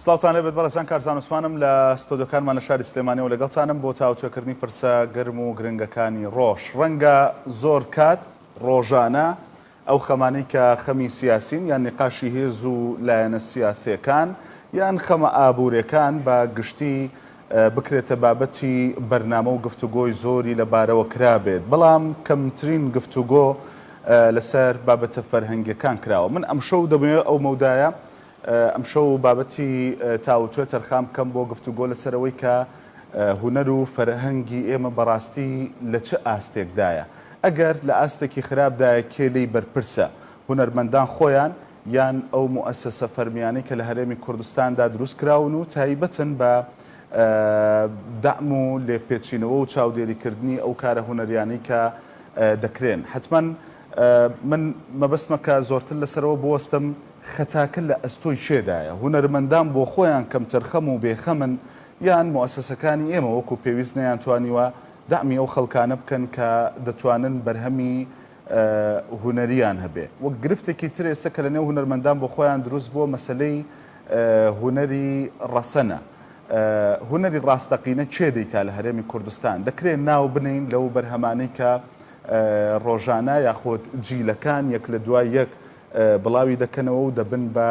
سڵاوتانێ بێت بەڕێزان کارزان عوسمانم لە ستۆدیۆکانمان لە شاری سلێمانیەوە لەگەڵتانم بۆ تاوتوێکردنی پرسە گەرم و گرنگەکانی ڕۆژ ڕەنگە زۆر کات ڕۆژانە ئەو خەمانەی کە خەمی سیاسین یان نیقاشی هێز و لایەنە سیاسێکان یان خەمە ئابوورێکان بە گشتی بکرێتە بابەتی بەرنامە و گفتوگۆی زۆری لە بارەوە کرابێت بەڵام کەمترین گفتوگۆ لەسەر بابەتە فەرهەنگیەکان کراوە من ئەمشەو دەمەوێت ئەو مەودایە ئەمشەو بابەتی تاووتوێ تەرخان بکەم بۆ گفتوگۆ لەسەر ئەوەی کە هونەر و فەرهەنگی ئێمە بەڕاستی لە چ ئاستێکدایە؟ ئەگەر لە ئاستێکی خراپدایە کێ لێی بەرپرسە؟ هونەرمەندان خۆیان یان ئەو موئەسەسە فەرمیانەی کە لە هەرێمی کوردستاندا دروستکراون و تایبەتن بە دەعم و لێپێچینەوە و چاودێریکردنی ئەو کارە هونەریانەی کە دەکرێن؟ حەتمەن من مەبەستمە کە زۆرتر لەسەرەوە بوەستم خەتاکە لە ئەستۆی کێدایە؟ هونەرمەندان بۆ خۆیان کەمتەرخەم و بێخەمن یان موئەسەسەکانی ئێمە وەکو پێویست نەیانتوانیوە دەعمی ئەو خەڵکانە بکەن کە دەتوانن بەرهەمی هونەرییان هەبێ؟ وەک گرفتێکی تر ئێستە کە لەنێو هونەرمەندان بۆ خۆیان دروست بووە مەسەلەی هونەری ڕەسەنە. هونەری ڕاستەقینە کێ دەیکا لە هەرێمی کوردستان؟ دەکرێ ناو بنێین لەو بەرهەمانەی کە ڕۆژانە یاخود جیلەکان یەک لە دوای یەک بڵاوی دەکەنەوە و دەبن بە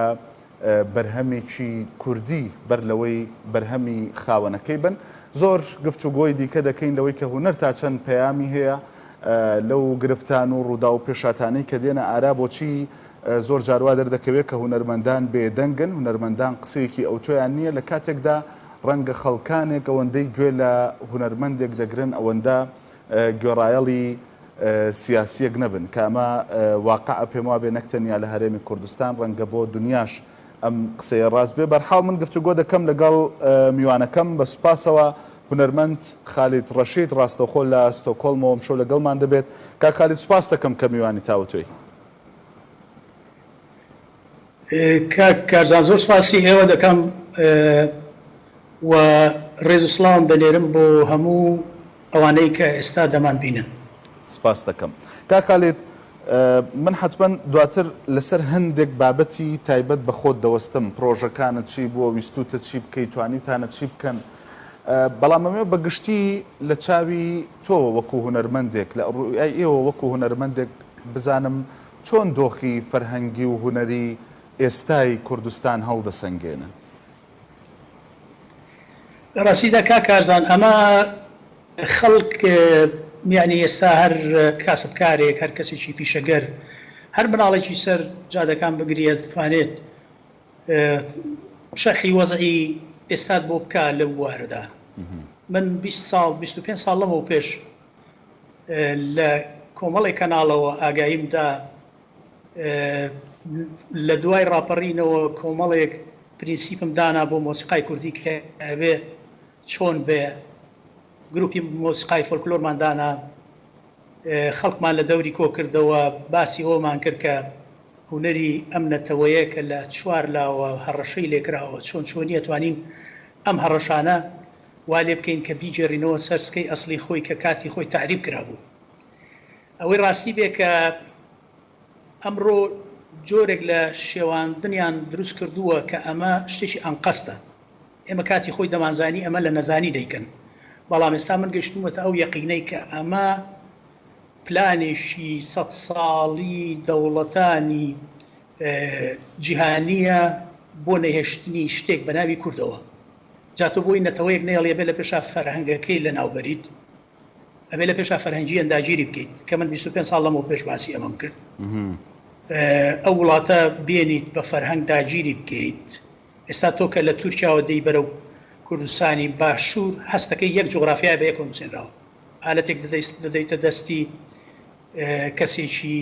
بەرهەمێکی کوردی بەر لەوەی بەرهەمی خاوەنەکەی بن. زۆر گفتوگۆی دیکە دەکەین لەوەی کە هونەر تا چەند پەیامی هەیە لەو گرفتان و ڕووداو و پێشاتانەی کە دێنە ئارا بۆچی زۆر جار وا دەردەکەوێت کە هونەرمەندان بێدەنگن، هونەرمەندان قسەیەکی ئەوتۆیان نییە لە کاتێکدا ڕەنگە خەڵکانێک ئەوەندەی گوێ لە هونەرمەندێک دەگرن ئەوەندە گوێڕایەڵی سیاسییەک نەبن، کە ئەمە واقعە، پێم وابێ نەک تەنیا لە هەرێمی کوردستان، ڕەنگە بۆ دنیاش ئەم قسەیە ڕاست بێ. بەرحاڵ من گفتوگۆ دەکەم لەگەڵ میوانەکەم، بە سوپاسەوە هونەرمەند خالید ڕەشید ڕاستەوخۆ لە ستۆکهۆڵمەوە ئەمشەو لەگەڵمان دەبێت. کاک خالید سوپاستەکەم کە میوانی تاوتوێی. کاک کارزان زۆر سوپاسی ئێوە دەکەم و ڕێز و سڵاوم دەنێرم بۆ هەموو ئەوانەی کە ئێستا دەمانبینن. سپاست دەکەم. کاک خالید من حەتمەن دواتر لەسەر هەندێک بابەتی تایبەت بە خۆت دەوەستم، پڕۆژەکانت چی بووە، ویستووتە چی بکەی، توانیوتانە چی بکەن، بەڵام ئەمەوێ بە گشتی لە چاوی تۆوە وەکوو هونەرمەندێک، لە ڕوویای ئێوە وەکوو هونەرمەندێک بزانم چۆن دۆخی فەرهەنگی و هونەری ئێستای کوردستان هەڵدەسەنگێنن؟ لە ڕاستیدا کاک کارزان ئەمە خەڵک یانی ئێستا هەر کاسبکارێک هەر کەسێکی پیشەگەر هەر مناڵێکی سەر جادەکان بگری ئەتوانێت شەرحی وەزعی ئێستات بۆ بکا لەو بوارەدا من بیست ساڵ بیست و پێنج ساڵ لەمەو پێش لە کۆمەڵێک کەناڵەوە ئاگاییم دا لە دوای ڕاپەڕینەوە کۆمەڵێک پرینسیپم دانا بۆ مۆسیقای کوردی کە ئەبێ چۆن بێ گروپی مۆسیقای فۆلکلۆرمان دانا خەڵکمان لە دەوری کۆ کردەوە باسی ئەومان کرد کە هونەری ئەم نەتەوەیە کە لە چوار لاوە هەڕەشەی لێکراوە چۆن چۆنیە توانین ئەم هەڕەشانە وا لێ بکەین کە بیگێڕینەوە سەر سکەی ئەسڵی خۆی کە کاتی خۆی تەعریب کرابوو. ئەوەی ڕاستی بێ کە ئەمڕۆ جۆرێک لە شێواندنیان دروست کردووە کە ئەمە شتێکی ئەنقەستە. ئێمە کاتی خۆی دەمانزانی ئەمە لە نەزانی دەیکەن، بەڵام ئێستا من گەیشتوومەتە ئەو یەقینەی کە ئەمە پلانێکی سەد ساڵی دەوڵەتانی جیهانییە بۆ نەهێشتنی شتێک بە ناوی کوردەوە. جا تۆ بۆی نەتەوەیەک نەیەڵی ئەبێ لە پێشا فەرهەنگەکەی لەناو بەریت ئەبێ لە پێشا فەرهەنگیەن داگیری بکەیت کە من بیست و پێنج ساڵ لەمەو پێش باسی ئەمەم کرد ئەو وڵاتە بێنیت بە فەرهەنگ داگیری بکەیت ئێستا تۆ کە لە تورکیاوە دێی بەرەو کوردستانی باشور هەستەکەی یەک جوغرافیای بە یەکەوە نوسێنراوە ئالەتێک دەدەیت دەدەیتە دەستی کەسێکی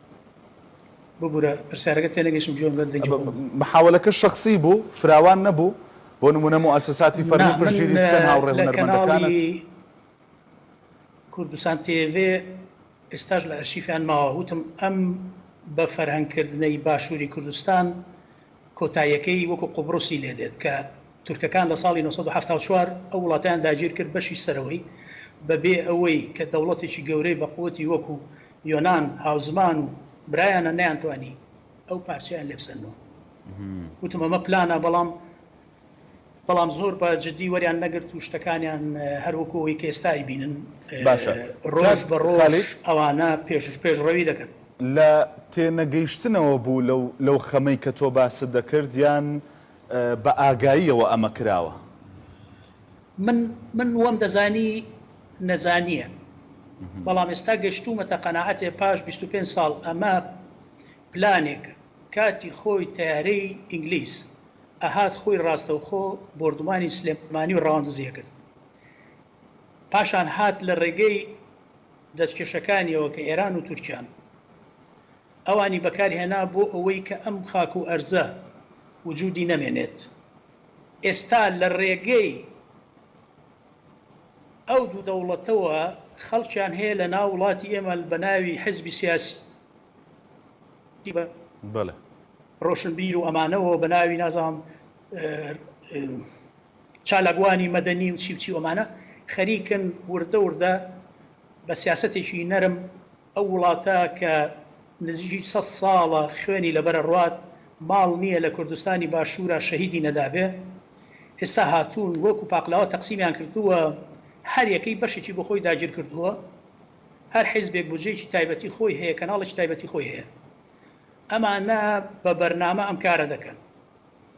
ببورە پرسیارەکەت تێنەگەیشتم گوێم لەت دەنگی خۆم بوو. محاولەکە شەخسی بوو فراوان نەبوو بۆ نمونە موئەسەساتی فەرمی پشتگیری بکەن هاوڕێ هونەرمەندەکانت. کوردستان تێڤێ ئێستاش لە ئەرشیفیان ماوە وتم ئەم بە فەرهەنگ کردنەی باشوری کوردستان کۆتاییەکەی وەکو قوبڕوسی لێ دێت کە تورکەکان لە ساڵی نۆ سەد و حەفتا و چوار ئەو وڵاتەیان داگیر کرد بەشی سەرەوەی بە بێ ئەوەی کە دەوڵەتێکی گەورەی بە قوتی وەکو یۆنان هاوزمان و برایانە نەیانتوانی ئەو پارچەیان لێ بسەننەوە وتم ئەمە پلانە بەڵام بەڵام زۆر بە جدی وەریان نەگرت و شتەکانیان هەر وەکو ئەوەی کە ئێستا ئەیبینن باشە ڕۆژ بە کاک ڕۆژ خالید ئەوانە پێش پێشڕەوی دەکەن. لە تێنەگەیشتنەوە بوو لەو لەو خەمەی کە تۆ باست دەکرد یان بە ئاگاییەوە ئەمە کراوە؟ من من وەم دەزانی نەزانیە بەڵام ئێستا گەشتومەتە قەناعەتێ پاش بیست و پێنج ساڵ ئەمە پلانێکە کاتی خۆی تەیارەی ئینگلیز ئەهات خۆی ڕاستەوخۆ بۆردومانی سلێمانی و ڕەواندزی ئەکرد پاشان هات لە ڕێگەی دەستکێشەکانیەوە کە ئێران و تورکیان ئەوانی بەکار هێنا بۆ ئەوەی کە ئەم خاک و ئەرزە وجودی نەمێنێت. ئێستا لە ڕێگەی ئەو دوو دەوڵەتەوە خەڵکیان هەیە لە ناو وڵاتی ئێمە بە ناوی حزبی سیاسی بەڵێ. ڕۆشنبیر و ئەمانەوە و بە ناوی نازانم چالاکوانی مەدەنی و چی و چی و ئەمانە خەریکن وردە وردە بە سیاسەتێکی نەرم، ئەو وڵاتە کە نزیکی سەد ساڵە خوێنی لەبەر ئەڕوات ماڵ نیە لە کوردستانی باشورا شەهیدی نەدابێ ئێستا هاتوون وەکو پاقلاوە تەقسیمیان کردووە هەر یەکەی بەشێکی بۆ خۆی داگیر کردووە هەر حیزبێک بودجەیەکی تایبەتی خۆی هەیە کەناڵێکی تایبەتی خۆی هەیە ئەمانە بە بەرنامە ئەم کارە دەکەن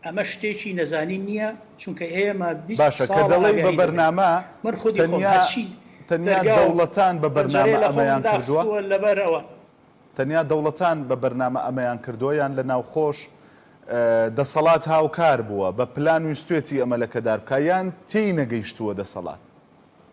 ئەمە شتێکی نەزانین نیە چونکە ئێمە بیست باشە کە ساڵە دەڵێی بە ئاگاهی دەبێت بەرنامە من خودی خۆم تەنیا هەرچی تەنیا دەرگا و دەوڵەتان بە پەنجەرەیە بەرنامە لە خۆمم ئەمەیان کردووە؟ داخستووە لەبەر ئەوە. تەنیا دەوڵەتان بە بەرنامە ئەمەیان کردووە یان لە ناوخۆش دەسەڵات هاوکار بووە بە پلان ویستوێتی ئەمە لەکەدار بکا یان تێی نەگەیشتووە دەسەڵات؟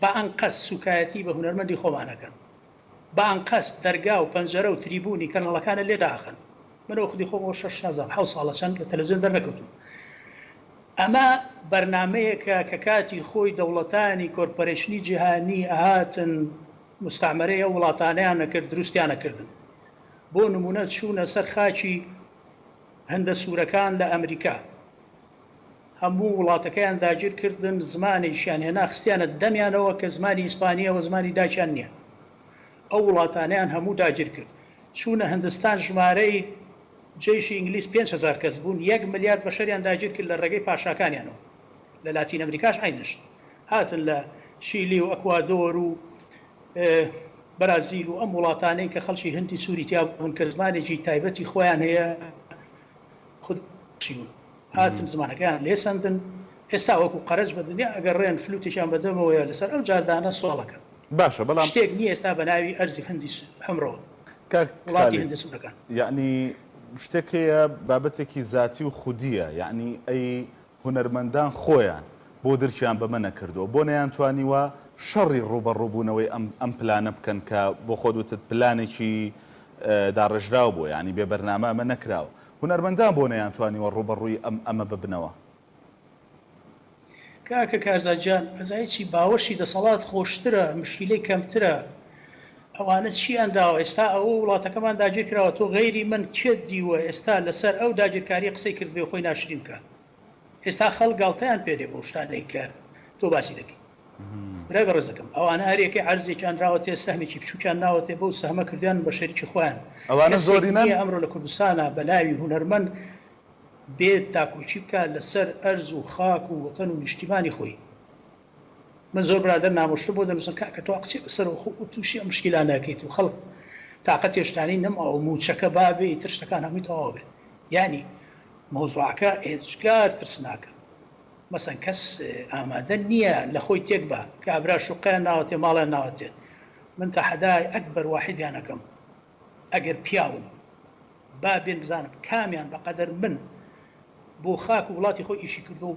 بە ئەنقەست سوکایەتی بە هونەرمەندی خۆمان ئەکەن بە ئەنقەست دەرگا و پەنجەرە و تریبونی کەناڵەکانت لێ داخەن من ئەو خودی خۆم ئەو شەش نازانم حەوت ساڵە چەند لە تەلەفزیۆن دەرنەکەوتوم ئەمە بەرنامەیەکە کە کاتی خۆی دەوڵەتانی کۆرپەرەیشنی جیهانی ئەهاتن موستەعمەرەی ئەو وڵاتانەیان ئەکرد دروستیان ئەکردن بۆ نمونە چونە سەر خاکی هندە سورەکان لە ئەمریکا هەموو وڵاتەکەیان داگیر کردن زمانێکیان هێنا خستیانە دەمیانەوە کە زمانی ئیسپانیە وە زمانی دایکیان نیە ئەو وڵاتانەیان هەموو داگیر کرد چونە هندستان ژمارەی جەیشی ئینگلیز پێنج هەزار کەس بوون یەک ملیارد بەشەریان داگیر کرد لە ڕێگەی پاشاکانیانەوە لە لاتین ئەمریکاش عەینە شت هاتن لە شیلی و ئەکوادۆر و بەرازیل و ئەم وڵاتانەی کە خەڵکی هندی سوری تیابوون کە زمانێکی تایبەتی خۆیان هەیە خود چیون. هاتن زمانەکەیان لێ سەندن، ئێستا وەکو قەرەج بە دنیا ئەگەڕێن، فلوتێکیان بە دەمەوەیە لەسەر ئەو جادانە سۆڵ ئەکەن. باشە بەڵام. شتێک نییە ئێستا بە ناوی ئەرزی هندی حمرۆ، کاک وڵاتی خالید، هندە سوورەکان. یەعنی شتێک هەیە بابەتێکی زاتی و خودییە، یەعنی ئەی هونەرمەندان خۆیان بۆ درکیان بەمە نەکردووە؟ بۆ نەیانتوانیوە شەڕی ڕووبەڕووبوونەوەی ئەم ئەم پلانە بکەن کە بۆ خۆت وتت پلانێکی داڕێژراو بووە، یەعنی بێ بەرنامە ئەمە نەکراوە. هونەرمەندان بۆ نەیانتوانیوە ڕووبەڕووی ئەم ئەمە ببنەوە؟ کاکە کارزان جان ئەزای چی باوەشی دەسەڵات خۆشترە مشکیلەی کەمترە ئەوانە چیان داوە ئێستا ئەوە وڵاتەکەمان داگیر کراوە تۆ غەیری من کێت دیوە ئێستا لەسەر ئەو داگیرکاریە قسەی کردبێ و خۆی ناشرین بکا. ئێستا خەڵک گاڵتەیان پێ دێ بەو شتانەی کە تۆ باسی دەکەی برای بەڕێزەکەم ئەوانە هەرێکەی عەرزێکیان راوەتێ سەهمێکی بچوکیان ناوەتێ بەو سەهمە کردویانن بە شەریکی خۆیان ئەوانە زۆرینەن کەسێک نیە ئەمڕۆ لە کوردستانا بە ناوی هونەرمەند بێت داکۆکی بکات لەسەر ئەرز و خاک و وەتەن و نیشتیمانی خۆی. من زۆر برادەر نامۆشتر بۆ دەنوسن کاکە تۆ ئەقچێ بەسەر و خۆ و توشی ئەم مشکیلانە ئەکەیت و خەڵک تاقەتی شتانی نەماوە موچەکە بابێ ئیتر شتەکان هەموی تەواو بێت یانی مەوزوعەکە ئێجگار ترسناکە مەسەن کەس ئامادە نیە لەخۆی تێک با کابرا شوقەیان ناوەتێ ماڵیان ناوەتێ من تەحەدای ئەکبەر واحیدیان ئەکەم ئەگەر پیاون با بێن بزانم کامیان بەقەدەر من بۆ خاک و وڵاتی خۆی ئیشی کردوە و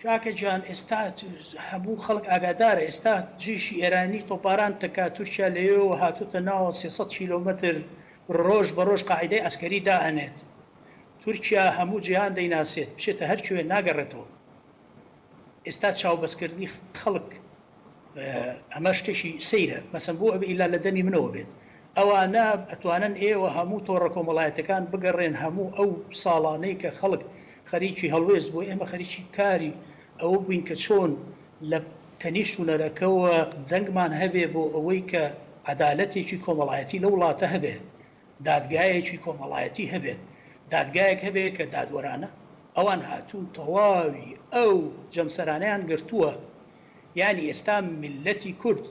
کاکە جان ئێستا هەموو خەڵک ئاگادارە ئێستا جەیشی ئێرانی تۆپاران تەکا تورکیا لەوێوە هاتۆتە ناوەوە سێ سەد کیلۆمەتر ڕۆژ بە ڕۆژ قاعیدەی عەسکەری دا ئەنێت تورکیا هەموو جیهان دەیناسێت بچێتە هەر کوێ ناگەڕێتەوە ئێستا چاو بەس کردنی خەڵک ئەمە شتێکی سەیرە مەسەن بۆ ئەبێ ئیلا لە دەمی منەوە بێت ئەوانە ئەتوانن ئێوە هەموو تۆڕە کۆمەڵایەتەکان بگەڕێن هەموو ئەو ساڵانەی کە خەڵک خەریکی هەڵوێست بوو ئێمە خەریکی کاری ئەوە بووین کە چۆن لە تەنیشت هونەرەکەوە دەنگمان هەبێ بۆ ئەوەی کە عەدالەتێکی کۆمەڵایەتی لەو وڵاتە هەبێ دادگایەکی کۆمەڵایەتی هەبێت دادگایەک هەبێ کە دادوەرانە ئەوان هاتوون تەواوی ئەو جەمسەرانەیان گرتووە یانی ئێستا میللەتی کورد،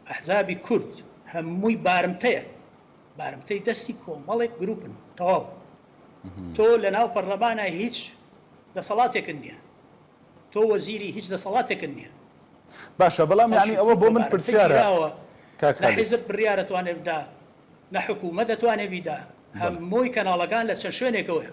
ئەحزابی کورد هەمووی بارمتەیە، بارمتەی دەستی کۆمەڵێک گروپن تەواو. تۆ لە ناو پەرلەمانە هیچ دەسەڵاتێکت نیە، تۆ وەزیری هیچ دەسەڵاتێکت نیە. باشە بەڵام یانی ئەوە بۆ من پرسیارە کاک خالید. نە حیزب بڕیار دەتوانێت بدا، نە حکومەت دەتوانێت بیدا، هەمووی کەناڵەکان لە چەند شوێنێکەوەیە.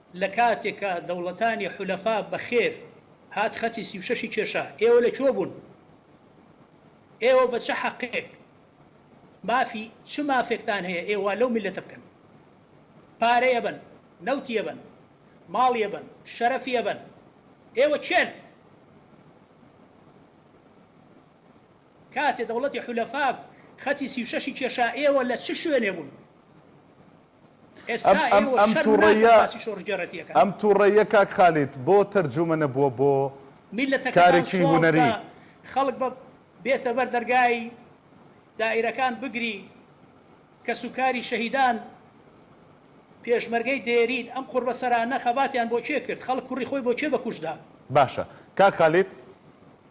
لە کاتێکا دەوڵەتانی حولەفا بە خێر هات خەتی سی و شەش ی کێشا ئێوە لە کوێ بوون؟ ئێوە بە چ حەقێک مافی چ مافێکتان هەیە ئێوە وا لەو میللەتە بکەن؟ پارەی ئەبەن، نەوتی ئەبەن، ماڵی ئەبەن، شەرەفی ئەبەن، ئێوە کێن؟ کاتێ دەوڵەتی حولەفا خەتی سی و شەش ی کێشا ئێوە لە چ شوێنێ بوون؟ ئێستا ئێوە شەرم ناکەن باسی شۆڕشگێڕێتی ئەکەن. ئەم توڕەییە کاک خالید بۆ تەرجومە نەبووە بۆ میللەتەکەتان کارێکی سواو هونەری؟ بکا خەڵک بە بێتە بەر دەرگای دائیرەکان بگری کەس و کاری شەهیدان پێشمەرگەی دێرین ئەم قوڕبە سەرانە خەباتیان بۆ کێ کرد خەڵک کوڕی خۆی بۆ کێ بە کوشت دا؟ باشە کاک خالید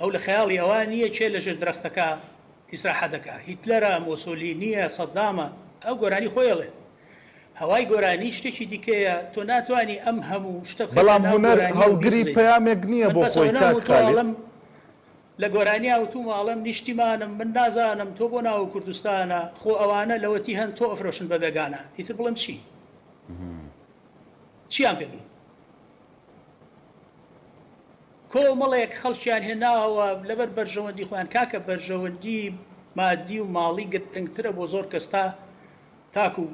ئەو لە خەیاڵی ئەوە نییە کێ لەژێر درەختەکە ئیسراحەت دەکا، هیتلەرە، مۆسۆلینییە، سەدامە، ئەو گۆرانی خۆی ئەڵێ. هەوای گۆرانی شتێکی دیکەیە، تۆ ناتوانی ئەم هەموو شتە بخەیتە بەڵام ناو هونەر گۆرانی و هەڵگری بیخزێی. پەیامێک نییە من بۆ بەس خۆی ئەونەم کاک و تۆ خالید. ئەڵەم، لە گۆرانیا وتوومە ئەڵێم نیشتیمانم، من نازانم تۆ بۆ ناوو کوردستانە، خۆ ئەوانە لەوەتی هەن تۆ ئەفرۆشن بە بێگانە، ئیتر بڵێم چی؟ چییان پێ بڵێم؟ کۆمەڵێک خەڵکیان هێناوە لەبەر بەرژەوەندی خۆیان، کاکە بەرژەوەندی مادی و ماڵی گرنگترە بۆ زۆر کەس تا تاکو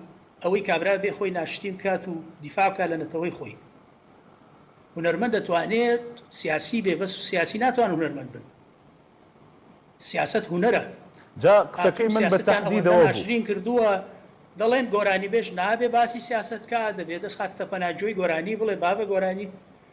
ئەوەی کابرا بێ خۆی ناشرین بکات و دیفاع بکات لە نەتەوەی خۆی. هونەرمەند دەتوانێت سیاسی بێ بەس سیاسی ناتوان هونەرمەند بن. سیاسەت هونەرە. جا قسەکەی من بە تەحدیدەوە بوو. ناشرین کردووە دەڵێن گۆرانیبێژ نابێ باسی سیاسەت کات دەبێ دەست خاکتەپەنا گوێی گۆرانی بڵێ بابە گۆرانی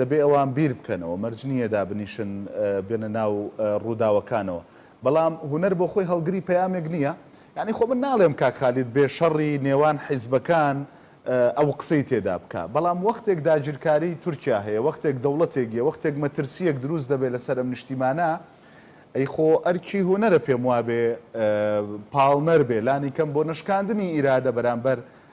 دەبێ ئەوان بیر بکەنەوە، مەرج نییە دابنیشن بێنە ناو ڕووداوەکانەوە. بەڵام هونەر بۆ خۆی هەڵگری پەیامێک نییە؟ یانی خۆ من ناڵێم کاک خالید بێ شەڕی نێوان حیزبەکان ئەو قسەی تێدا بکا، بەڵام وەختێک داگیرکاریی تورکیا هەیە، وەختێک دەوڵەتێک یە، وەختێک مەترسییەک دروست دەبێ لەسەر ئەم نیشتیمانە، ئەی خۆ ئەرکی هونەرە پێم وابێ پاڵنەر بێ لانی کەم بۆ نەشکاندنی ئیرادە بەرامبەر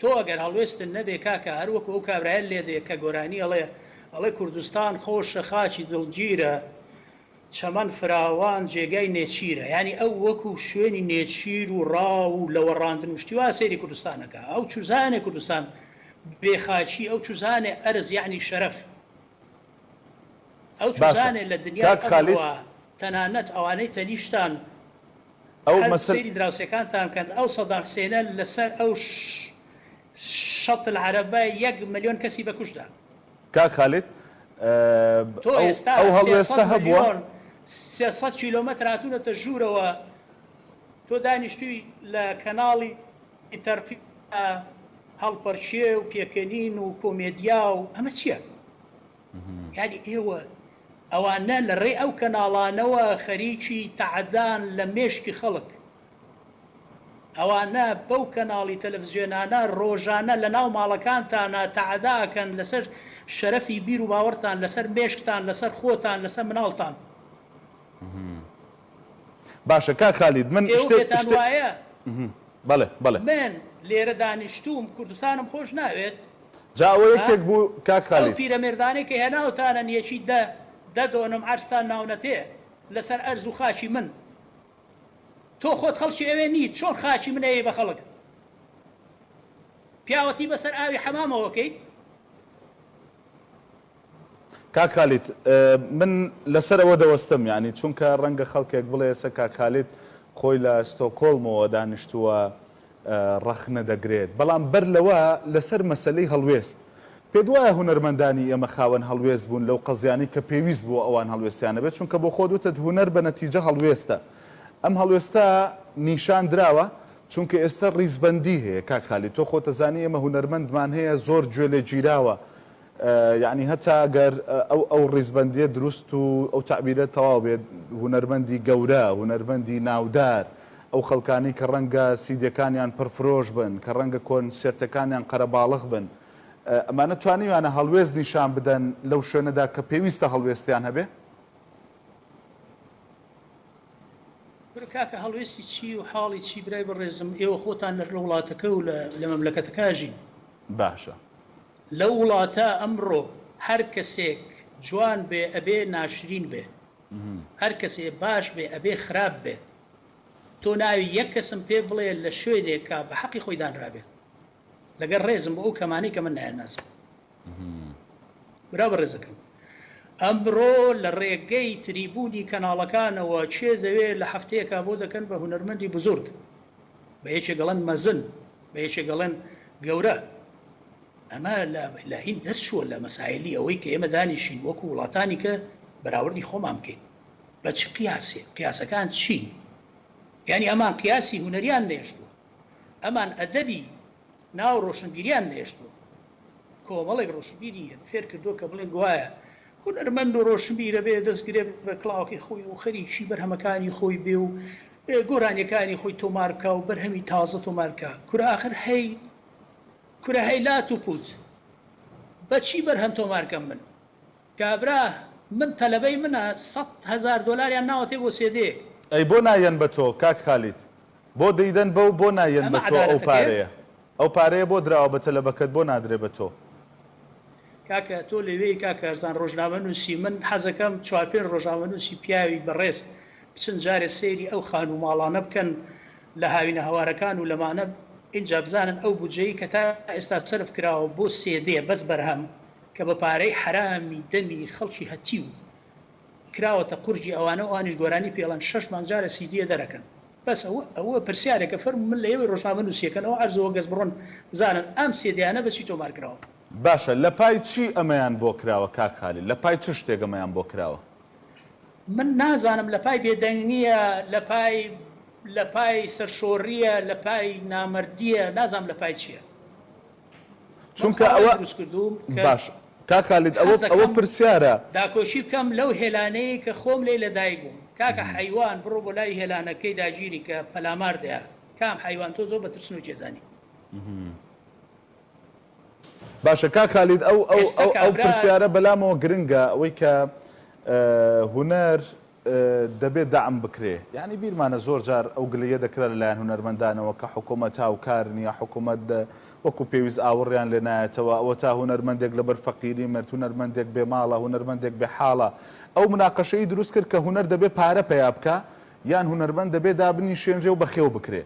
تۆ ئەگەر هەڵوێستت نەبێ کاکە هەر وەکو ئەو کابرایە لێدێ کە گۆرانی ئەڵێ ئەڵێ کوردستان خۆشە خاکی دڵگیرە چەمەن فراوان جێگای نێچیرە یانی ئەو وەکو شوێنی نێچیر و ڕاو و لەوەڕاندن و شتی وا سەیری کوردستان ئەکا ئەو چوزانێ کوردستان بێ خاکی ئەو چوزانێ ئەرز یانی شەرەف ئەو باشە چوزانێ لە دنیای کاک خالید ئەمڕۆا تەنانەت ئەوانەی تەنیشتان ئەو هەر مەسەل. سەیری دراوسێکانتان بکەن ئەو سەدام حسێنە لەسەر ئەو شەط العربە یەک ملیۆن کەسی بەکوشدا. کاک خالید تۆ ئێستا ئەو سێ هەڵوێستە سەد هەبووە. ملیۆن سێ سەد کیلۆمەتر هاتوونەتە ژوورەوە تۆ دانیشتووی لە کەناڵی تەرقی دا هەڵپەرکێ و پێکەنین و کۆمێدیا و ئەمە چیە یانی ئێوە. ئەوانە لە ڕێی ئەو کەناڵانەوە خەریکی تەعەدان لە مێشکی خەڵک. ئەوانە بەو کەناڵی تەلەفزیۆنانە ڕۆژانە لە ناو ماڵەکانتانا تەعەدا ئەکەن لە سەر شەرەفی بیر و باوەڕتان، لە سەر مێشکتان، لە سەر خۆتان، لە سەر مناڵتان. باشە کاک خالید من ئێوە شتێک پێتان شتێ وایە بەڵێ بەڵێ. من لێرە دانیشتووم کوردستانم خۆش ناوێت جا ئەوە ها یەکێک بوو کاک ئەو خالید. پیرەمێردانەی کە هێناوتانن یەکی دە دە دۆنم عەرزتان ناونەتێ لەسەر ئەرز و خاکی من تۆ خۆت خەڵکی ئەوێ نیت چۆن خاکی من ئەیەی بە خەڵک پیاوەتی بەسەر ئاوی حەمامەوە کەیت. کاک خالید من لەسەر ئەوە دەوەستم یانی چونکە ڕەنگە خەڵکێک بڵێ ئێسە کاک خالید خۆی لە ستۆکۆڵمەوە دانیشتووە ڕەخنە دەگرێت بەڵام بەر لەوە لەسەر مەسەلەی هەڵوێست پێت وایە هونەرمەندانی ئێمە خاوەن هەڵوێست بوون لەو قەزیانەی کە پێویست بووە ئەوان هەڵوێستیان نەبێت چونکە بۆ خۆت وتت هونەر بە نەتیجە هەڵوێستە ئەم هەڵوێستە نیشان دراوە چونکە ئێستا ڕیزبەندی هەیە کاک خالید تۆ خۆتەزانی ئێمە هونەرمەندمان هەیە زۆر گوێ لێ گیراوە یەعنی هەتا گەر ئەو ئەو ڕیزبەندیە دروست و ئەو تەعبیرە تەواو بێت، هونەرمەندی گەورە، هونەرمەندی ناودار، ئەو خەڵکانەی کە ڕەنگە سیدەکانیان پڕفرۆش بن، کە ڕەنگە کۆنسێرتەکانیان قەرەباڵغ بن، ئەمانە توانیویانە هەڵوێست نیشان بدەن لەو شوێنەدا کە پێویستە هەڵوێستیان هەبێ؟ برا کاکە هەڵوێستی چی و حاڵی چی برای بەڕێزم، ئێوە خۆتان لە وڵاتەکە و لە مەملەکەتەکە ئەژین، باشە. لەو وڵاتە ئەمڕۆ هەر کەسێک جوان بێ ئەبێ ناشرین بێ هەر کەسێ باش بێ ئەبێ خراپ بێ تۆ ناوی یەک کەسم پێ بڵێ لە شوێنێکا بە حەقی خۆی دانرابێ لەگەر ڕێزم بۆ ئەو کەمانەی کە من نایانناسم برا بەڕێزەکەم ئەمڕۆ لە ڕێگەی تریبوونی کەناڵەکانەوە کێ دەوێ لە هەفتەیەکا بۆ دەکەن بە هونەرمەندی بزورگ بە یەکێک ئەڵێن مەزن بە یەکێک ئەڵێن گەورە ئەمە لە هیند دەرچووە لە مەسایلی ئەوەی کە ئێمە دانیشین وەکو وڵاتانی کە بەراوردی خۆمان بکەین بە چ قیاسێ قیاسەکان چین یعنی ئەمان قیاسی هونەریان نێشتووە ئەمان ئەدەبی ناو ڕۆشنبیریان نەهێشتووە. کۆمەڵێک ڕۆشنبیریان فێر کردووە کە بڵێن گوایە هونەرمەند و ڕۆشنبیر ئەبێ دەست گرێ بە کڵاوەکەی خۆی و خەریکی بەرهەمەکانی خۆی بێ و گۆرانیەکانی خۆی تۆمار بکا و بەرهەمی تازە تۆمار بکا. کورە ئاخر هەی کورە هەی لات و پووت بە چی بەرهەم تۆمار کەم من؟ کابرا من تەلەبەی منە سەد هەزار دۆلاریان ناوەتێ بۆ سێدێ. ئەی بۆ نا یەن بە تۆ کاک خالید بۆ دەیدەن بەو بۆ نا یەن بە تۆ ئەو پارەیە ئەو پارەیە بۆ دراوە بە تەلەبەکەت بۆ نادرێ بە تۆ. کاکە تۆ لەوێی کاک کارزان ڕۆژنامە نوسی من حەزەکەم چوار پێنج ڕۆژنامە نوسی پیاوی بەڕێز بچن جارێ سەیری ئەو خانوو ماڵانە بکەن لە هاوینە هەوارەکان و لەمانە ئینجا بزانن ئەو بودجەی کە تا ئێستا سەرف کراوە بۆ سێدێ بەس بەرهەم کە بە پارەی حەرامی دەمی خەڵکی هەتیو کراوەتە قورگی ئەوانەو ئەوانیش گۆرانی پێڵەن شەش مانگ جارە سیدیە دەرەکەن بەس ئەوە ئەوە پرسیارێکە فەرمو من لە ئێوەی ڕۆژنامە نوسیەکەن ئەوە عەرزە وەگەز بڕۆن بزانن ئەم سیدیانە بە چی تۆمار کراوە. باشە لە پای چی ئەمەیان بۆ کراوە کاک خالید لە پای چ شتێک ئەمەیان بۆ کراوە. من نازانم لە پای بێدەنگیە لە پای لە پای سەرشۆریە لە پای نامەردیە نازانم لە پای چیە. چونکە ئەوە باشە کاک خالید ئەوە پرسیارە داکۆکی بکەم لەو هێلانەی کە خۆم لێی لەدایک بووم کاکە حەیوان بڕۆ بۆ لای هێلانەکەی داگیری کە پەلامار دەیات کام حەیوان تۆ زۆر بە ترسنۆک یەزانی باشە کاک خالید ئەو ئەو ئەو پرسیارە بەلامەوە گرنگە ئەوەی کە هونەر دەبێ دەعم بکرێ یانی بیرمانە زۆر جار ئەو گلەیە دەکرا لە لایەن هونەرمەندانەوە کە حکومەت هاوکار نیە حکومەت وەکو پێویست ئاوڕیان لێ نایەتەوە ئەوەتا هونەرمەندێک لەبەر فەقیری مرد هونەرمەندێک بێ ماڵە هونەرمەندێک بێ حاڵە ئەو مناقەشەی دروست کرد کە هونەر دەبێ پارە پەیا بکا یان هونەرمەند دەبێ دابنیشێنرێ و بەخێو بکرێ.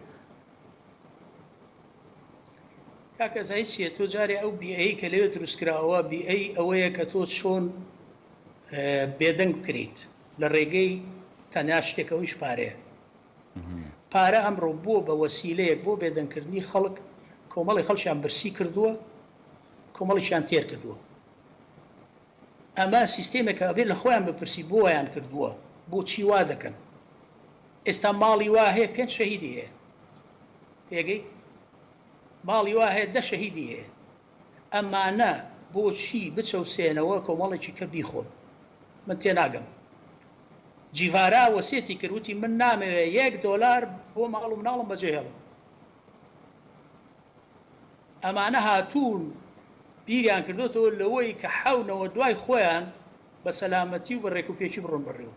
کاک ئەزای چیە تۆ جارێ ئەو بیئەی کە لەوێ دروست کراوە بیئەی ئەوەیە کە تۆ چۆن بێدەنگ بکریت لە ڕێگەی تەنیا شتێک ئەویش پارەیە. پارە ئەمڕۆ بووە بە وەسیلەیەک بۆ بێدەنگ کردنی خەڵک، کۆمەڵی خەڵکیان برسی کردووە، کۆمەڵیکیان تێر کردووە. ئەمە سیستێمێکە ئەبێ لە خۆیان بپرسی بۆ وایان کردووە؟ بۆچی وا دەکەن؟ ئێستا ماڵی وا هەیە پێنج شەهیدی هەیە. تێگەی؟ ماڵی وا هەیە دە شەهیدی هەیە. ئەمانە بۆچی بچەوسێنەوە کۆمەڵێکی کە بیخۆن من تێناگەم جیڤارا وەسێتی کرد وتی من نامەوێ یەک دۆلار بۆ ماڵ و مناڵم بەجێ هێڵم ئەمانە هاتوون بیریان کردۆتەوە لەوەی کە حەونەوە دوای خۆیان بە سەلامەتی و بە رێکوپێکی بڕۆن بەڕێوە.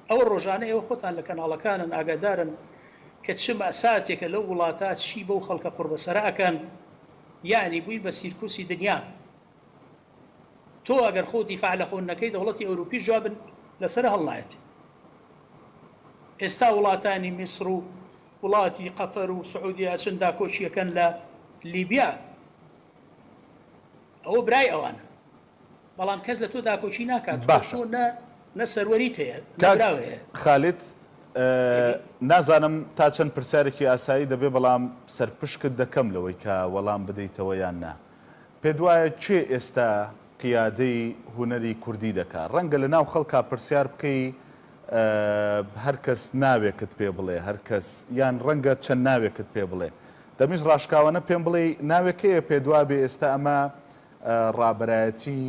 ئەوە ڕۆژانە ئێوە خۆتان لە کەناڵەکانن ئاگادارن کە چ مەئساتێکە لەو وڵاتە چی بەو خەڵکە قوڕبەسەرە ئەکەن یەعنی بووی بە سیرکوسی دنیا تۆ ئەگەر خۆ دیفاع لە خۆت نەکەی دەوڵەتی ئەوروپیش جواب لەسەر هەڵنایەت ئێستا وڵاتانی میسر و وڵاتی قەتەر و سعودیە ئەچن داکۆکیەکەن لە لیبیا ئەوە برای ئەوانە بەڵام کەس لەتۆ داکۆکی ناکات خۆ تۆ نە نە سەروەریت هەیە نە براو هەیە. کاک خالید نازانم تا چەند پرسیارێکی ئاسایی دەبێ بەڵام سەرپشکت دەکەم لەوەی کە وەڵام بدەیتەوە یان نا. پێت وایە کێ ئێستا قیادەی هونەری کوردی دەکا؟ ڕەنگە لە ناو خەڵکا پرسیار بکەی هەر کەس ناوێکت پێ بڵێ هەر کەس یان ڕەنگە چەند ناوێکت پێ بڵێ. دەمویست ڕاشکاوانە پێم بڵێی ناوێک هەیە پێت وابێ ئێستا ئەمە ڕابەرایەتی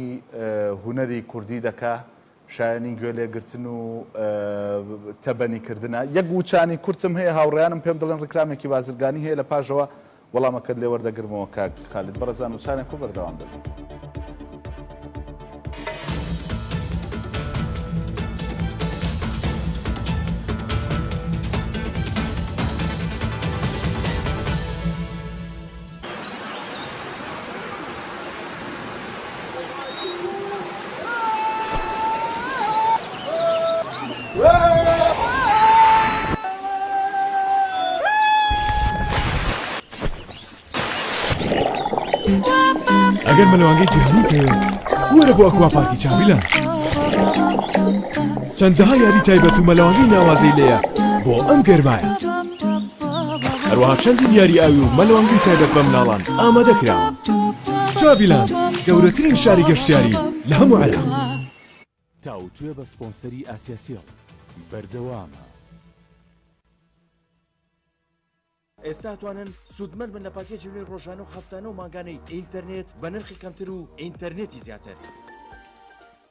هونەری کوردی دەکا شایەنی گوێ لێگرتن و تەبەنی کردنە. یەک وچانی کورتم هەیە هاوڕێیانم پێم دڵێن ڕیکلامێکی بازرگانی هەیە لە پاژەوە وەڵامەکەت لێ وەردەگرمەوە کاک خالید بەڕێزان وچانێک و بەردەوام دەبین. ئەگەر مەلەوانگەی جیهانی تەوێت وەرە بۆ ئەکوا پارکی چاویلە چەندەها یاری تایبەت و مەلەوانگەی ناوازەی لێە بۆ ئەم گەرمایە. هەروەها چەندین یاری ئاوی و مەلەوانگەی تایبەت بە مناڵان ئامادە کراون چاڤیلاند گەورەترین شاری گەشتیاری لە هەموو عێراق تاوتوێ بە سپۆنسەری ئاسیاسیڵ بەردەوامە ئێستا توانن سوودمەند بن لە پاکێجی نوێی ڕۆژانە و هەفتانە و مانگانەی ئینتەرنێت بە نرخی کەمتر و ئینتەرنێتی زیاتر.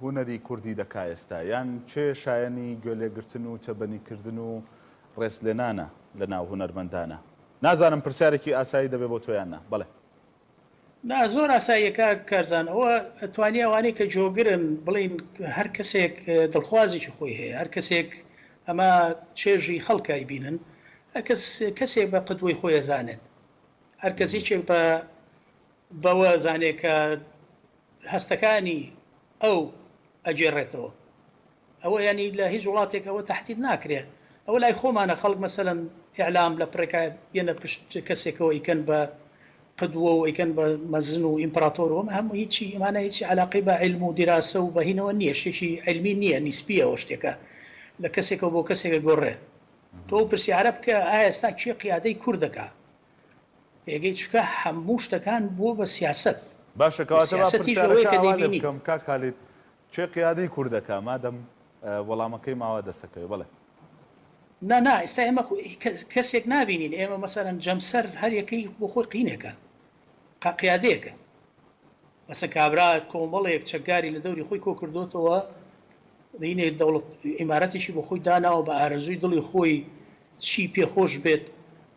هونەری کوردی دەکا ئێستا؟ یان کێ شایەنی گوێلێگرتن و تێبەنی کردن و ڕێز لێنانە لە ناو هونەرمەندانە؟ نازانم پرسیارێکی ئاسایی دەبێ بۆ تۆ یان نا؟ بەڵێ. نا زۆر ئاساییە کاک کارزان، ئەوە توانیە ئەوانەی کە جۆگرن بڵێن هەر کەسێک دڵخوازێکی خۆی هەیە، هەر کەسێک ئەمە چێژی خەڵکە ئەیبینن، هەر کەس کەسێک بە قدوەی خۆی ئەزانێت، هەر کەس یەکێک بە بەوە ئەزانێت کە هەستەکانی ئەو ئەگێڕێتەوە ئەوە یانی لە هیچ وڵاتێک ئەوە تەحدید ناکرێ ئەوە لای خۆمانە خەڵک مەسەلەن ئیعلام لە پڕێکا بێنە پشت کەسێکەوە ئیکەن بە قدوە و ئیکەن بە مەزن و ئیمپراتۆر وەمە هەموو هیچی ئەمانە هیچی عەلاقەی بە عیلم و دیراسە و بەهینەوە نییە شتێکی عیلمی نییە نیسبیە ئەوە شتێکە لە کەسێکەوە بۆ کەسێک ئەگۆڕێ تۆ پرسیارە بکە ئایا ئێستا کێ قیادەی کورد دەکا پێگەی چونکە هەموو شتەکان بووە بە سیاسەت. باشە کەواتە با پرسیارەکە ئاوا لێ بکەم کاک خالید کێ قیادەی کوردەکە مادەم وەڵامەکەی ماوە دەسەکەوێ بەڵێ. نا نا ئیستا ئێمە کەسێک نابینین ئێمە مەسەلەن جەمسەر هەر یەکەی بۆ خۆی قینێکە قیادەیەکە بەسە کابرا کۆمەڵێک چەکداری لە دەوری خۆی کۆکردوتەوە دینێ دەوڵەت ئیمارەتێکی بۆ خۆی داناوە بە ئارەزووی دڵی خۆی چی پێخۆش بێت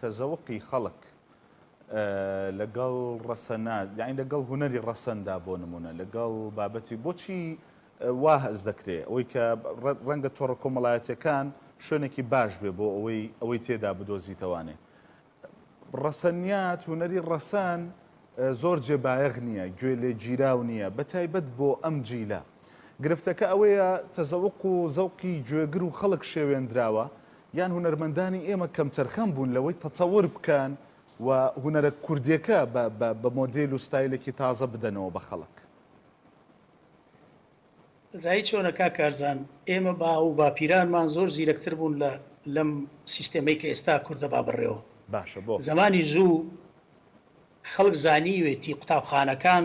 تەزەوقی خەڵک لەگەڵ ڕەسەنا یانی لەگەڵ هونەری ڕەسەندا بۆ نمونە لەگەڵ بابەتی بۆچی وا هەست دەکرێ ئەوەی کە ڕەنگە تۆڕە کۆمەڵایەتیەکان شوێنێکی باش بێ بۆ ئەوەی ئەوەی تێدا بدۆزیتەوانێ ڕەسەنیات هونەری ڕەسەن زۆر جێ بایەغ نییە گوێ لێ گیراو نییە بە تایبەت بۆ ئەم جیلە گرفتەکە ئەوەیە تەزەوق و زەوقی گوێگر و خەڵک شێوێندراوە یان هونەرمەندانی ئێمە کەمتەرخەم بوون لەوەی تەتەور بکەن و هونەرە کوردیەکە بە مۆدێل و ستایلێکی تازە بدەنەوە بە خەڵک؟ زایی چۆنە کاک کارزان، ئێمە باو و باپیرانمان زۆر زیرەکتر بوون لە لەم سیستێمەی کە ئێستا کورد دەبا بڕێوە. باشە بۆ؟ زەمانی زوو خەڵک زانیوێتی قوتابخانەکان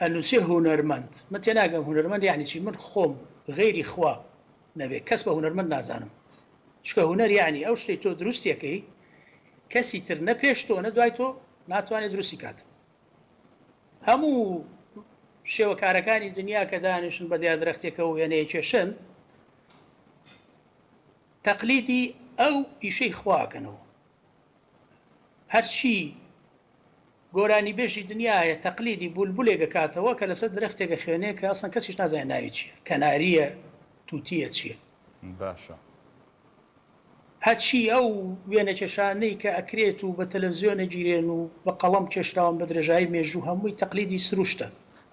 ئەنوسێ هونەرمەند من تێناگەم هونەرمەند یەعنی چی من خۆم غەیری خوا نەبێ کەس بە هونەرمەند نازانم چونکە هونەر یەعنی ئەو شتەی تۆ دروستی ئەکەی کەسی تر نە پێش تۆ نە دوای تۆ ناتوانێت دروستی کات هەموو شێوەکارەکانی دنیا کە دانیشن بە دیا درەختێکە و وێنەیە کێشن تەقلیدی ئەو ئیشەی خواکەنەوە هەرچی گۆرانیبێژی دنیا هەیە تەقلیدی بولبولێک ئەکاتەوە کە لەسەر درەختێک ئەخوێنێ کە ئەسڵەن کەسیش نازانێ ناوی چیە کەناریە توتیە چیە. باشە. هەرچی ئەو وێنەکێشانەی کە ئەکرێت و بە تەلەفزیۆن ئەگیرێن و بە قەڵەم کێشراون بە درێژایی مێژوو هەمووی تەقلیدی سروشتە.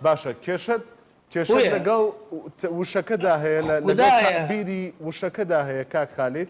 باشە کێشەت کێشەت بۆیە. لەگەڵ وشەکەدا هەیە لە لەگەڵ خودایە. تەعبیری وشەکەدا هەیە کاک خالید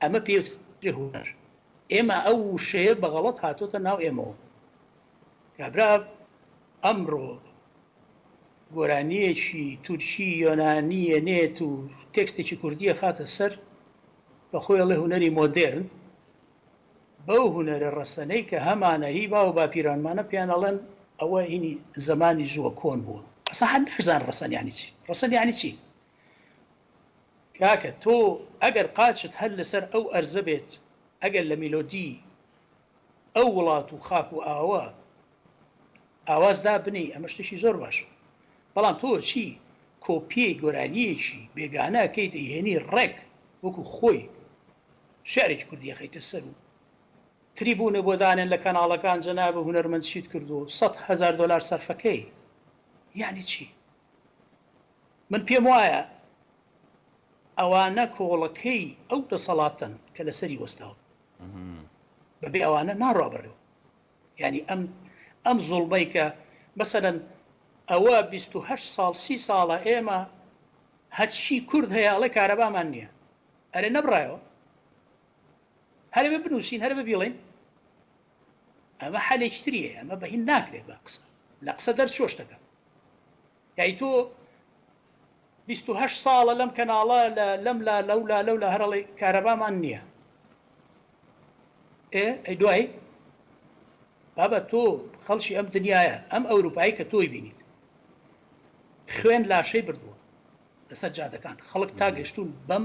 ئەمە پێوترێ هونەر ئێمە ئەو وشەیە بە غەڵەت هاتۆتە ناو ئێمەوە کابرا ئەمڕۆ گۆرانیەکی تورکی یۆنانیە نێت و تێکستێکی کوردیە خاتە سەر بە خۆیڵێ هوەری مۆدررن بەو هوەرە ڕەسەنەی کە هەمانە هی باو باپیرانمانە پیانەڵێن ئەوە هینی زمانی زووە کۆن بووە ئەسا هەر نەزان ڕەسەنیانی چی ڕەسەنیانی چی کاکە تۆ ئەگەر قاچت هەر لەسەر ئەو ئەرزە بێت ئەگەر لە میلۆدی ئەو وڵات و خاک و ئاوە ئاواز دابنێی ئەمە شتێکی زۆر باشە بەڵام تۆ چی کۆپیەی گۆرانیەکی بێگانە کەی دەیهێنی ڕێک وەکو خۆی شعرێکی کوردیە خەیتە سەر و تریبونە بۆ دانێن لە کەناڵەکان جەنابە هونەرمەند چیت کردو سەد هەزار دۆلار سەرفەکەی یعنی چی من پێم وایە ئەوانە کۆڵەکەی ئەو دەسەڵاتەن کە لەسەری وەستاون بەبێ ئەوانە ناڕا بەڕێوە ینی ئەم ئەم زۆڵبەی کە مەسەەن ئەوە 28 ساڵ سی ساڵە ئێمە هەچی کورد هەیە ئەڵێ کارەبامان نییە ئەرێ نەبڕایەوە هەرێ بنووسین هەر ببیڵین ئەمە حەلێکی تری هەیە ئەمە بەهین ناکرێت بە قسە لە قسە دەرچوە شتەکە یای تۆ 28 ساڵە لەم کەناڵە لە لەم لا لەولا لەو لە هەرڵی کارەبامان نییە ئێ ئەی دوایی بابە تۆ خەڵکی ئەم دنیاە ئەم ئەوروپایی کە تۆی بینیت خوێن لاشەی بردووە لەسەر جادەکان خەڵک تا گەشتون بەم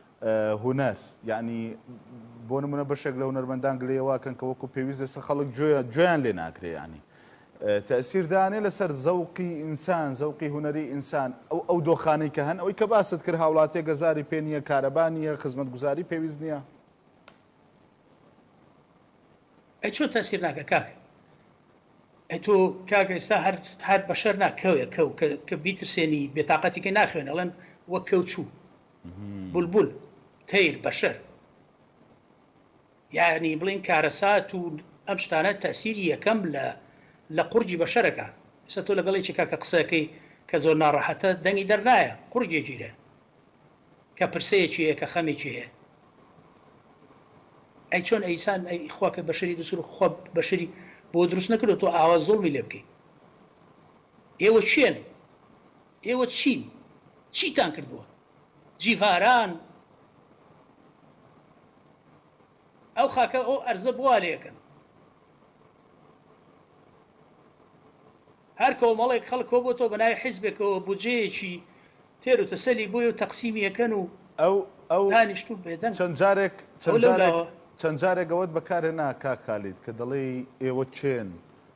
هونەر یەعنی بۆ نمونە بەشێک لە هونەرمەندان گلەی ئەوە ئەکەن کە وەکو پێویست ئێستا خەڵک گوێ گوێیان لێ ناگرێ یەعنی تەئسیر دانێ لەسەر زەوقی ئینسان زەوقی هونەری ئینسان ئەو ئەو دۆخانەی کە هەن ئەوی کە باست کرد هاوڵاتیە گەزاری پێ نیە کارەبا نیە خزمەتگوزاری پێویست نیە ئەی چۆن تەئسیر ناکە کاکە ئەی تۆ کاکە ئێستا هەر هەر بەشەر نا کەوێ کەو کە بیترسێنی بێتاقەتی کە ناخوێنێ ئەڵێن وەک کەو چوو بولبول، تەیر، بەشەر، یانی بڵێین کارەسات و ئەم شتانە تەئسیری یەکەم لە لە قوڕگی بەشەرەکە، ئیستا تۆ لەگەڵ یەکێکا کە قسە ئەکەی کە زۆر ناڕەحەتە دەنگی دەر نایە قوڕگی ئەگیرێ کە پرسەیەکی هەیە کە خەمێکی هەیە ئەی چۆن ئەیسان ئەی خوا کە بەشەری دروست کرد خوا بەشەری بۆ دروست نەکردو تۆ ئاوا زوڵمی لێ بکەی ئێوە کێن؟ ئێوە چین؟ چیتان کردووە؟ جیڤاران ئەو خاکە ئەو ئەرزە بوا لێکن. هەر کۆمەڵێک خەڵک کۆبۆتەوە بە ناوی حیزبێکەوە بودجەیەکی تێر و تەسەلی بۆی و تەقسیمی ئەکەن و ئەو ئەو دانیشتوو بێدەنگ چەند جارێک ئەو چەند لەو جارێک لاوە. چەند جارێک ئەوەت بەکارهێنا کاک خالید کە دەڵێی ئێوە کێن؟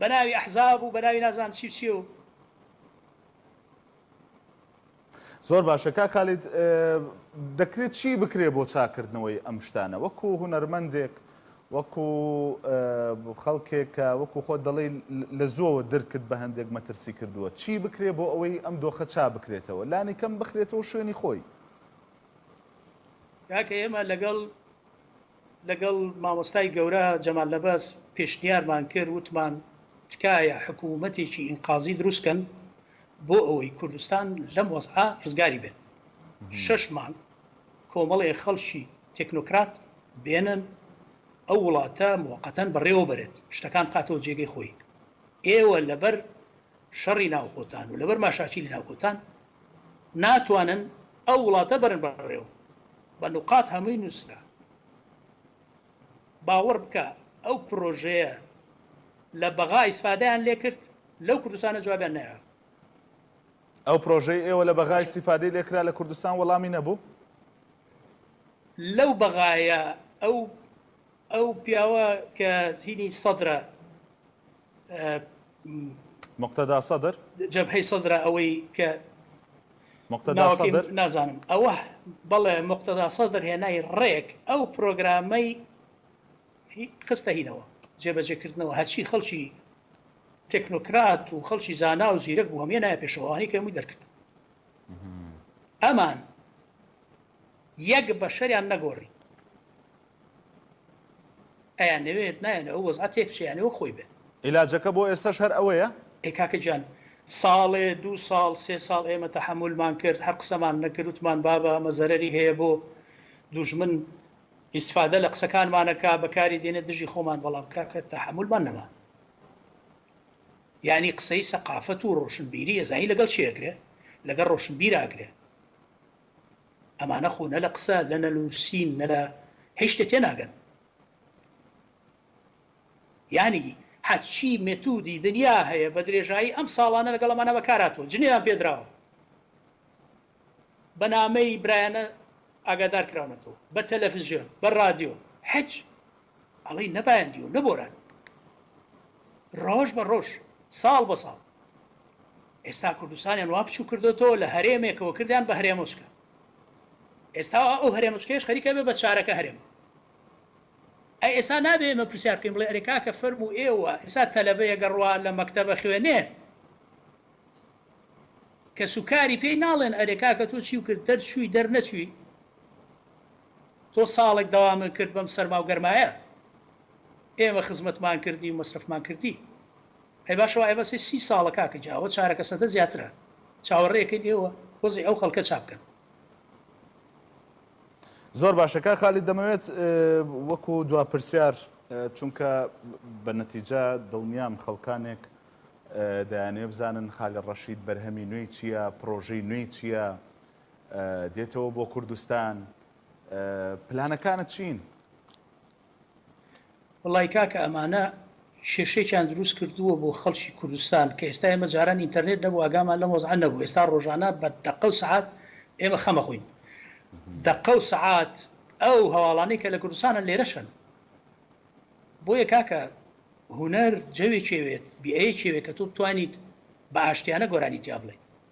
بەناوی ئەحزاب و بەناوی نازانم چی و چی و. زۆر باشە کاک خالید دەکرێت چی بکرێت بۆ چاکردنەوەی ئەم شتانە وەکو هونەرمەندێک وەکو خەڵکێک کە وەکو خۆ دەڵی لە زۆوە درکت بە هەندێک مەترسی کردووە چی بکرێت بۆ ئەوەی ئەم دۆخە چا بکرێتەوە لانی کەم بخرێتەوە شوێنی خۆی کاکە ئێمە لەگەڵ لەگەڵ مامۆستای گەورە جەمال نەبەز پێشنیارمان کرد وتمان تکایە حکوومەتێکی ئینقازی دروست کەن بۆ ئەوەی کوردستان لەم وەزعە ڕزگاری بێت شەش مانگ کۆمەڵێ خەڵکی تێکنۆکرات بێنن ئەو وڵاتە موقەتەن بەڕێوە بەرێت شتەکان بخاتەوە جێگەی خۆی ئێوە لەبەر شەڕی ناوخۆتان و لەبەر ماشاکیلی ناوخۆتان ناتوانن ئەو وڵاتە بەرن بەڕێوە بە نوقات هەمووی نوسرا باوەڕ بکە ئەو پرۆژەیە لە بەغا ئیسفادەیان لێکرد لەو کوردستانە جوابیان نەیاوە. ئەو پرۆژەی ئێوە لە بەغا ئیسیفادەی لێکرا لە کوردستان وەڵامی نەبوو؟ لەو بەغایە ئەو ئەو پیاوە کە هینی سەدرە موقتەدا سەدر جەبهەی سەدرە ئەوەی کە موقتەدا سەدر نازانم ئەوە بەڵێ موقتەدا سەدر هێنای ڕێک ئەو پرۆگرامەی خستە هینەوە جێبەجێکردنەوە هەرچی خەڵکی تەکنۆکرات و خەڵکی زانا و زیرەک بوو هەمیە نایە پێشەوانی کەمووی دەرکرد ئەمان یەک بەشەریان نەگۆڕی ئەیانەوێت نایەن ئەو وەزعە تێکبچێ یانی وەک خۆی بێت. عیلاجەکە بۆ ئێستەش هەر ئەوەیە؟ ئەی کاکە گیان ساڵێ دوو ساڵ سێ ساڵ ئێمە تەحەمولمان کرد هەر قسەمان نەکرد وتمان بابە ئەمە زەرەری هەیە بۆ دوژمن ئیستفادە لە قسەکانمان ئەکا بەکاری دێنێت دژی خۆمان بەڵام کاکە تەحەمولمان نەما یانی قسەی سەقافەت و ڕۆشنبیری ئەزانی لەگەڵ کێ ئەکرێ لەگەڵ ڕۆشنبیر ئاکرێ ئەمانە خۆ نە لە قسە لە نەنووسین نە لە هیچ شتێ تێناگەن یانی هەرچی مێتودی دنیا هەیە بە درێژایی ئەم ساڵانە لەگەڵ ئەمانە بەکارهاتووە جنێویان پێدراوە بە نامەی برایانە ئاگادار کراونەتەوە بە تەلەفزیۆن بە رادیۆ حچ ئەڵێی نە بایەندی و نە بۆران ڕۆژ بە ڕۆژ ساڵ بە ساڵ ئێستا کوردستانیان وا بچوو کردۆتەوە لە هەرێمێکەوە کردیان بە هەرێمۆچکە ئێستا ئەو هەرێمچکەش خەریکە بێ بە چارەکە هەرێم ئەی ئێستا نابێ ئمە پرسیار بکەین بڵێ ئەرێ کاکە فەرم و ئێوە ئێستا تەلەبەیە گەڕوا لە مەکتتەبە خوێنێ کە سوکاری پێی ناڵێن ئەرێ کاکە تۆ چی و کرد دەرچووی دەرنەچووی تۆ ساڵێک داوامن کرد بەم سەرماو گەرمایە ئێمە خزمەتمان کردی و مەسرەفمان کردی ئەی باشە وائە بەسێ سی ساڵە کاکە جا ئەوە چارەکە سەدە زیاترە چاوەڕێکەین ئێوە وەزعی ئەو خەڵکە چابکەن. زۆر باشە کاک خالید دەمەوێت وەکو دوا پرسیار چونکە بە نەتیجە دڵنیام خەڵکانێک دەیانێ بزانن خالی ڕەشید بەرهەمی نوێی چییە پرۆژەی نوێی چییە دێتەوە بۆ کوردستان پلانەکانت چین؟ وەڵای کاکە ئەمانە کێشەیەکیان دروست کردووە بۆ خەڵکی کوردستان کە ئێستا ئێمە جاران ئینتەرنێت نەبوو ئاگامان لەم وەزعە نەبوو ئێستا ڕۆژانە بە دەقە و سەعات ئێمە خەم ئەخۆین دەقە و سەعات ئەو هەواڵانەی کە لە کوردستانە لێرەشن بۆیە کاکە هونەر جەوێکێوێت بیئەیەکێوێت کە تۆ بتوانیت بە ئاشتیانە گۆرانی تیا بڵێ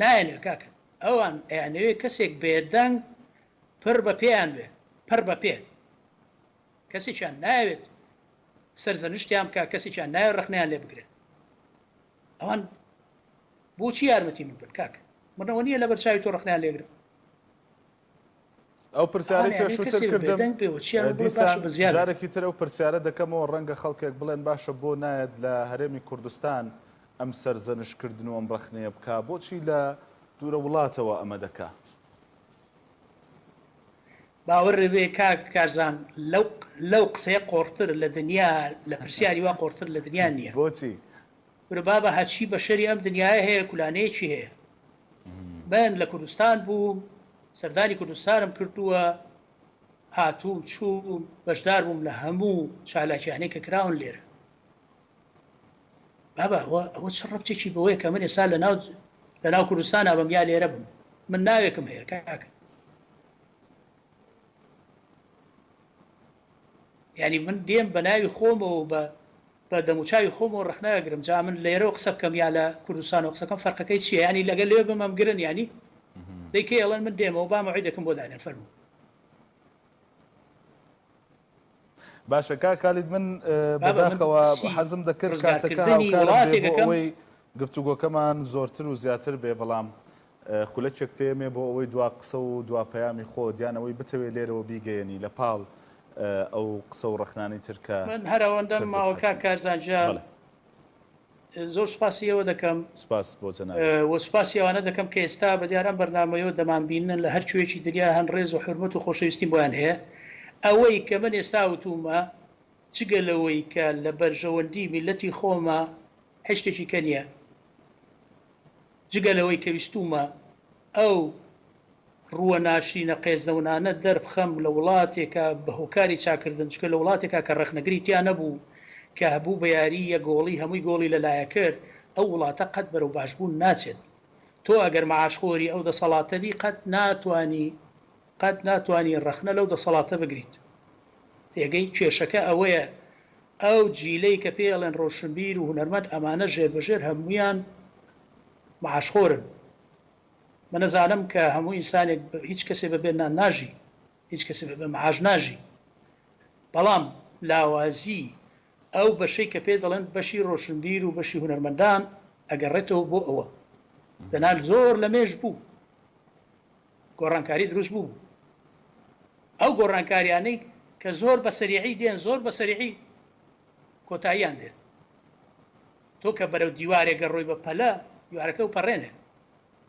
نایەنێ کاکە ئەوان ئەیانەوێ کەسێک بێدەنگ پڕ بە پێیان بێ پڕ بە پێ کەسێکیان نایەوێت سەرزەنشتیان بکا کەسێکیان نایە ڕەخنەیان لێ بگرێت ئەوان بۆچی یارمەتی من بن کاکە منەوە نییە لەبەر چاوی تۆ ڕەخنەیان لێگرم ئەو پرسیارەی پێشووتر کردم دیسان جارێکی تر ئەو پرسیارە دەکەمەوە ڕەنگە خەڵکێک بڵێن باشە بۆ نایەت لە هەرێمی کوردستان ئەم سەرزەنشکردن و ئەم ڕەخنەیە بکە بۆچی لە دوورە وڵاتەوە ئەمە دەکا باوەڕێ کاک کارزان لەو لەو قسەیە قۆڕتر لە دنیا لە پرسیاری وا قۆڕتر لە دنیا نییە بۆچی وربابە هەچی بەشەری ئەم دنیاە هەیە کولانەیەکی هەیە من لە کوردستان بووم، سەردانی کوردستانم کردووە، هاتووم چووم، بەشدار بووم لە هەموو چالاکیانەی کە کراون لێرە. بابە ئەوە ئەوە چ ڕەبتێکی بەوەیە کە من ئێستا لەناو لەناو کوردستانا بم یا لێرە بم؟ من ناوێکم هەیە کاکە. یانی من دێم بە ناوی خۆمەوە و بە بە دەموچاوی خۆمەوە ڕەخنە ئەگرم جا من لێرەوە قسە بکەم یا لە کوردستانەوە قسە بکەم فەرقەکەی چیە یانی لەگەر لەوێ بم ئەمگرن یانی دەی کەی ئەڵێن من دێمەوە با مەوعیدەکم بۆ دانێن فەرموو. باشە کاک خالید من بابە من بەداخەوە سی حەزم دەکرد کاتەکە ڕزگارکردنی هاوکارم بێ بۆ وڵاتێکەکەم ئەوەی گفتوگۆکەمان زۆرتر و زیاتر بێ بەڵام خولەکێک تێمێ بۆ ئەوەی دوا قسە و دوا پەیامی خۆت یان ئەوەی بتەوێ لێرەوە بیگەیەنی لە پاڵ ئەو قسە و ڕەخنانەی تر کە من هەر ئەوەندەم پردت ماوە کاک هاتووە. کارزان گیان بەڵێ. زۆر سوپاسی ئێوە دەکەم سوپاس بۆ جەنابت. و سوپاسی ئەوانە دەکەم کە ئێستا بە دیار ئەم بەرنامەیەوە دەمان بیننن لە هەر کوێیەکی دنیا هەن ڕێز و حورمەت و خۆشەویستیم بۆیان هەیە. ئەوەی کە من ئێستا وتوومە جگە لەوەی کە لە بەرژەوەندی میللەتی خۆمە هیچ شتێکی کە نیە جگە لەوەی کە ویستوومە ئەو ڕووە ناشرینە قێزەونانە دەربخەم لە وڵاتێکا بە هۆکاری چاکردن چونکە لە وڵاتێکا کە ڕەخنەگری تیا نەبوو کە هەبوو بە یاری یەک گۆڵی هەمووی گۆڵی لە لایە کرد ئەو وڵاتە قەت بەرەو باشبوون ناچێت تۆ ئەگەر مەعاش خۆری ئەو دەسەڵاتە بی قەت ناتوانی قەت ناتوانی ڕەخنە لەو دەسەڵاتە بگریت پێگەی کێشەکە ئەوەیە ئەو جیلەی کە پێی ئەڵێن ڕۆشنبیر و هونەرمەند ئەمانە ژێر بە ژێر هەموویان معاش خۆرن من ئەزانم کە هەموو ئینسانێک هیچ کەسێ بە بێ نان ناژی هیچ کەسێ بە بێ معاش ناژی بەڵام لاوازی ئەو بەشەی کە پێی دەڵێن بەشی ڕۆشنبیر و بەشی هونەرمەندان ئەگەڕێتەوە بۆ ئەوە دەنا زۆر لە مێژ بوو گۆڕانکاری دروست بوو بوو ئەو گۆڕانکاریانەی کە زۆر بە سەریعی دێن زۆر بە سەریعی کۆتاییان دێت تۆ کە بەرەو دیوارێک گەڕۆی بە پەلە دیوارەکە و پەڕێنێت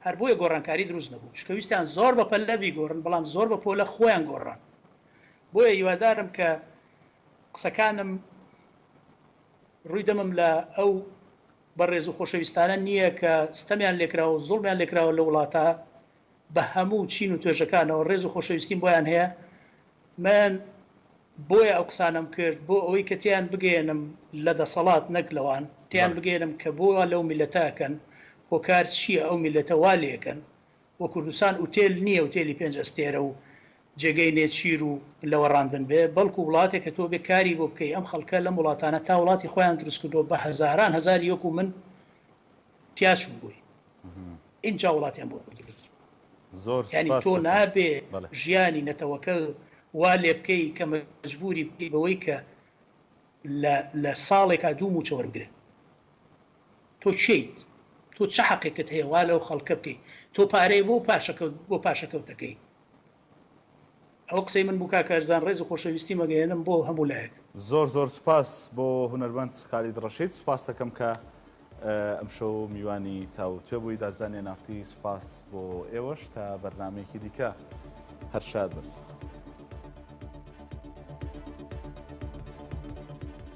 هەر بۆیە گۆڕانکاری دروست نەبوو چکە ویستیان زۆر بە پەلە بیگۆڕن بەڵام زۆر بە پۆلە خۆیان گۆڕان بۆیە هیوادارم کە قسەکانم ڕووی دەمم لە ئەو بەڕێز و خۆشەویستانە نییە کە ستەمیان لێکراوە و زوڵمیان لێکراوە لەو وڵاتە بە هەموو چین و توێژەکانەوە، ڕێز و خۆشەویستیم بۆیان هەیە، من بۆیە ئەو قسانەم کرد بۆ ئەوەی کە تێیان بگەیەنم لە دەسەڵات نەک لەوان، تێیان بگەیەنم کە بۆ وا لەو میللەتە ئەکەن، هۆکار چییە ئەو میللەتە وا لێ ئەکەن، و کوردستان ئوتێل نیە ئوتێلی پێنج ئەستێرە و جێگەی نێچیر و لەوەڕاندن بێ بەڵکو وڵاتێکە تۆ بێ کاری بۆ بکەی ئەم خەڵکە لەم وڵاتانە تا وڵاتی خۆیان دروست کردوە بە هەزاران هەزاری وەکو من تیا چوبوی ئینجا وڵاتیان بۆ خۆی دروست زۆر سوپاس دەکەم یانی تۆ نابێ ژیانی نەتەوەکە وا لێ بکەی کە مەجبوری بکەی بەوەی کە لە لە ساڵێکا دوو موچە وەربگرێ. تۆ کێیت؟ تۆ چ حەقێکت هەیە وا لەو خەڵکە بکەی؟ تۆ پارەی بۆ پاشەکەوت بۆ پاشەکەوتەکەی؟ ئەوە قسەی من بوو کاک هەرزان ڕێز و خۆشەویستیم ئەگەیەنم بۆ هەموو لایەک. زۆر زۆر سوپاس بۆ هونەرمەند خالید ڕەشید سوپاستەکەم کە ئەمشەو میوانی تاووتوێ بووی دادزان نێنافتی سوپاس بۆ ئێوەش تا بەرنامەیەکی دیکە هەر شاد بن.